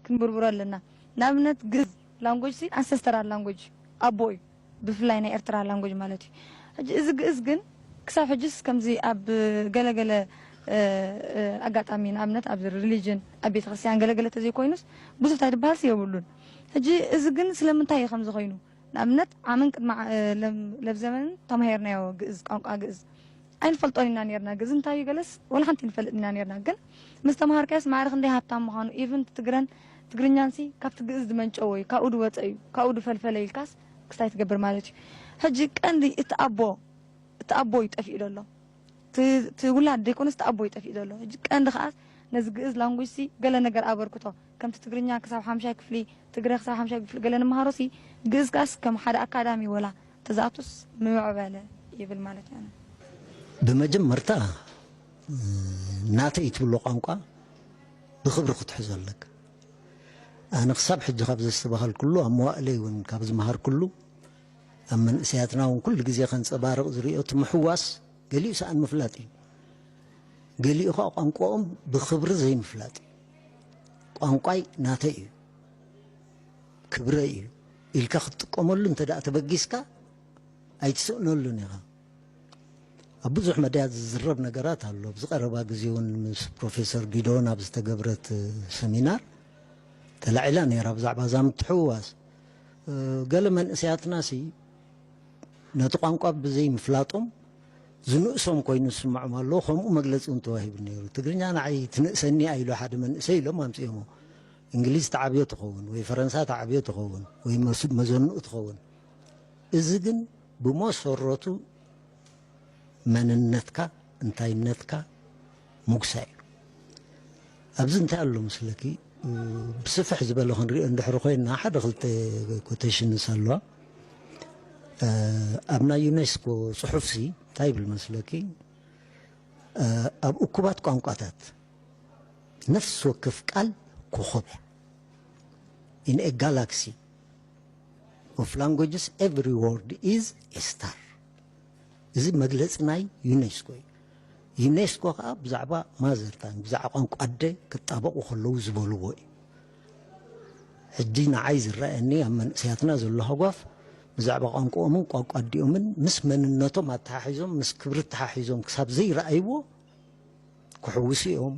ክንብርብሮ ኣለና ንኣብነት ግእዝ ላንጎጅ ሲ ኣንሰስተራል ላንጎጅ ኣቦ እዩ ብፍላይ ናይ ኤርትራ ላንጎጅ ማለት እዩ ሕጂ እዚ ግእዝ ግን ክሳብ ሕጂስ ከምዚ ኣብ ገለ ገለ ኣጋጣሚ ንኣብነት ኣብ ሪሊጅን ኣብ ቤተክርስትያን ገለ ገለ ተዘይኮይኑስ ብዙሕ ታይ ድበሃልሲ የብሉን ሕጂ እዚ ግን ስለምንታይ እዩ ከምዚ ኮይኑ ንኣብነት ዓምን ቅድሚ ለብ ዘበንን ተማሂርናዮ ግእዝ ቋንቋ ግእዝ ኣይንፈልጦን ኢና ኔርና ግእዝ እንታይ እዩ ገለስ ወላ ሓንቲ ኣይንፈልጥን ኢና ኔርና ግን ምስ ተማሃርካዮስ ማዕረ ክንደይ ሃብታም ምዃኑ ኢቭን እቲ ትግረን ትግርኛንሲ ካብቲ ግእዝ ዝመንጨወ እዩ ካብኡ ዝወፀ እዩ ካብኡ ዝፈልፈለ ኢልካስ ክስታይ ትገብር ማለት እዩ ሕጂ ቀንዲ እቲ ኣቦ እቲ ኣቦ እዩ ጠፊኡ ዘሎ እቲ ውላድ ዘይኮነስ እቲ ኣቦ እዩ ጠፊኡ ዘሎ ሕጂ ቀንዲ ከዓስ ነዚ ግእዝ ላንጉጅሲ ገለ ነገር ኣበርክቶ ከምቲ ትግርኛ ክሳብ ሓምሻይ ክፍሊ ትግረ ክሳብ ሓምሻይ ክፍሊ ገለ ንመሃሮሲ ግእዝ ከኣስ ከም ሓደ ኣካዳሚ ወላ ተዝኣቱስ ምምዕበለ ይብል ማለተይ ኣነ። ብመጀመርታ ናተይ ትብሎ ቋንቋ ብኽብሪ ክትሕዞ ኣለካ። ኣነ ክሳብ ሕጂ ካብ ዘስተባሃልኩሉ ኣብ መዋእለይ እውን ካብ ዝመሃርኩሉ ኣብ መንእሰያትና እውን ኩሉ ግዜ ከንጸባርቕ ዝርእዮ እቲ ምሕዋስ ገሊኡ ሰኣን ምፍላጥ እዩ። ገሊኡ ከኣ ቋንቋኦም ብኽብሪ ዘይምፍላጥ እዩ። ቋንቋይ ናተይ እዩ ክብረይ እዩ ኢልካ ክትጥቀመሉ እንተ ተበጊስካ ኣይትስእነሉን ኢኻ ኣብ ብዙሕ መዳያት ዝዝረብ ነገራት ኣሎ ኣብዚ ቀረባ ግዜ እውን ምስ ፕሮፌሰር ጊዶን ኣብ ዝተገብረት ሰሚናር ተላዒላ ነይራ ብዛዕባ እዛ ምትሕውዋስ ገለ መንእሰያትና ሲ ነቲ ቋንቋ ብዘይምፍላጦም ዝንእሶም ኮይኑ ዝስመዖም ኣሎ ከምኡ መግለጺ እውን ተዋሂቡ ነይሩ ትግርኛ ንዓይ ትንእሰኒ እያ ኢሉ ሓደ መንእሰይ ኢሎም ኣምጺኦሞ እንግሊዝ ተዓብዮ ትኸውን ወይ ፈረንሳ ተዓብዮ ትኸውን ወይ መዘንኡ ትኸውን እዚ ግን ብመሰረቱ መንነትካ እንታይነትካ ምጉሳይ እዩ። ኣብዚ እንታይ ኣሎ መስለኪ ብስፍሕ ዝበለ ክንሪኦ እንድሕሪ ኮይና ሓደ ክልተ ኮቴሽንስ ኣለዋ ኣብ ናይ ዩኔስኮ ጽሑፍሲ እንታይ ይብል መስለኪ ኣብ እኩባት ቋንቋታት ነፍሲ ወከፍ ቃል ኮኾብ እያ ኢን ኤ ጋላክሲ ኦፍ ላንጉጅስ ኤቭሪ ወርድ ኢዝ ኤ ስታር እዚ መግለጺ ናይ ዩኔስኮ እዩ። ዩኔስኮ ከኣ ብዛዕባ ማዘርታንግ ብዛዕባ ቋንቋ ኣደ ክጣበቑ ከለዉ ዝበልዎ እዩ። ሕጂ ንዓይ ዝረኣየኒ ኣብ መንእሰያትና ዘሎ ሃጓፍ ብዛዕባ ቋንቋኦምን ቋንቋ ኣዲኦምን ምስ መንነቶም ኣተሓሒዞም ምስ ክብሪ ተሓሒዞም ክሳብ ዘይረኣይዎ ክሕውሱ እዮም።